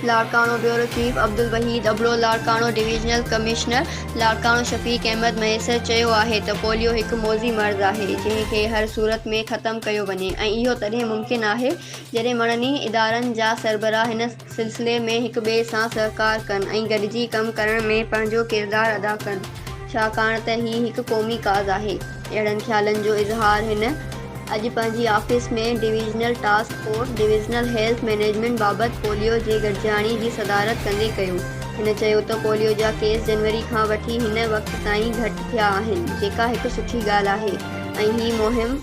Larkana, bureau chief Abdul Wahid Abro Larkana divisional commissioner Larkana Shafiq Ahmed Mahesar چيو آهي ته پوليو هڪ موذي مرض آهي جنهن کي هر صورت ۾ ختم ڪيو وڃي ۽ اهو تڏهن ممڪن آهي جڏهن مڙني ادارن جا سربراهه هن سلسلي ۾ هڪ ٻئي سان سهڪار ڪن ۽ گڏجي ڪم ڪرڻ ۾ پنهنجو ڪردار ادا ڪن ڇاڪاڻ ته هي هڪ قومي ڪاز آهي اهڙن خيالن جو اظهار هن اڄ پنهنجي office ۾ divisional task force divisional health management بابت پوليو جي گڏجاڻي جي صدارت ڪندي ڪيو هن چيو ته پوليو جا ڪيس جنوري کان وٺي هن وقت تائين گهٽ ٿيا آهن جيڪا هڪ سٺي ڳالهه آهي ۽ هي مهم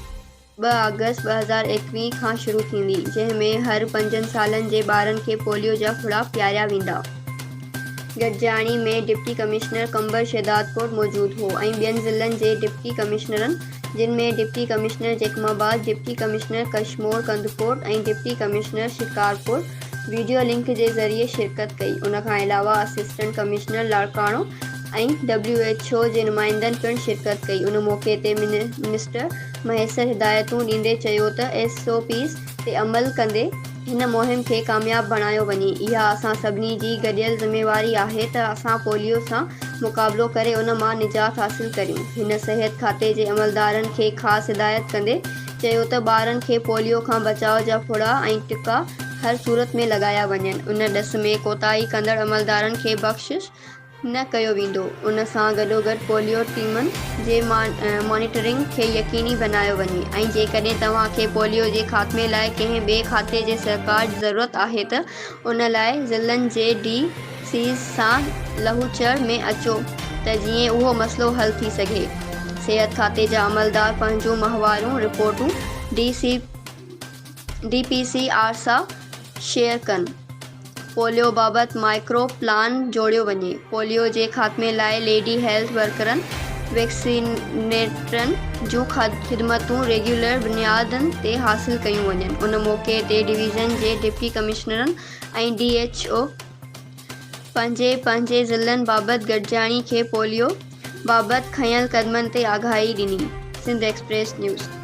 ٻه آگسٽ ٻه هزار ايڪويهه کان شروع ٿيندي جنهن ۾ هر پنجن سالن جي ٻارن کي پوليو جا ڦڙا پياريا ويندا. گڏجاڻي ۾ ڊپٽي ڪمشنر قمبر شهدادڪوٽ موجود هو ۽ ٻين ضلعن جي ڊپٽي ڪمشنرن جن ۾ deputy commissioner Jacobabad, deputy commissioner Kashmore Kandhkot ۽ deputy commissioner Shikarpur video link جي ذريعي شرڪت ڪئي ان کان علاوه assistant commissioner Larkana ۽ W H O جي نمائندن پڻ شرڪت ڪئي ان موقعي تي منسٽر مهيسر هدايتون ڏيندي چيو ته ايس او پيز تي عمل ڪندي هن مهم کي ڪامياب بڻايو وڃي اها اسان سڀني جي گڏيل ذميواري آهي ته اسان پوليو سان مقابلو ڪري ان مان نجات حاصل ڪريون هن صحت کاتي جي عملدارن کي خاص هدايت ڪندي چيو ته ٻارن کي پوليو کان بچاء جا ڦڙا ۽ ٽڪا هر صورت ۾ لڳايا وڃن ان ڏس ۾ ڪوتاهي ڪندڙ عملدارن کي بخشش نه ڪيو ويندو، ان سان گڏوگڏ پوليو ٽيمن جي مانيٽرنگ کي يقيني بنايو وڃي ۽ جيڪڏهن توهان کي پوليو جي خاتمي لاء ڪنهن ٻئي کاتي جي سهڪار جي ضرورت آهي ته ان لاء ضلعن جي ڊي سيز سان لهوچڙ ۾ اچو ته جيئن اهو مسئلو حل ٿي سگهي صحت کاتي جا عملدار پنهنجون ماهواريون رپورٽون D C D P C R share شيئر ڪن، پوليو بابت مائڪرو پلان جوڙيو وڃي، پوليو جي خاتمي لاء ليڊي هيلٿ ورڪرن، ويڪسينيٽرن جون خدمتون ريگيولر بنيادن تي حاصل ڪيون وڃن، ان موقعي تي ڊويزن جي ڊپٽي ڪمشنرن ۽ ڊي ايڇ او پنهنجي پنهنجي ضلعن بابت گڏجاڻي کي پوليو بابت کنيل قدمن تي آگاهي ڏني. Sindh express news.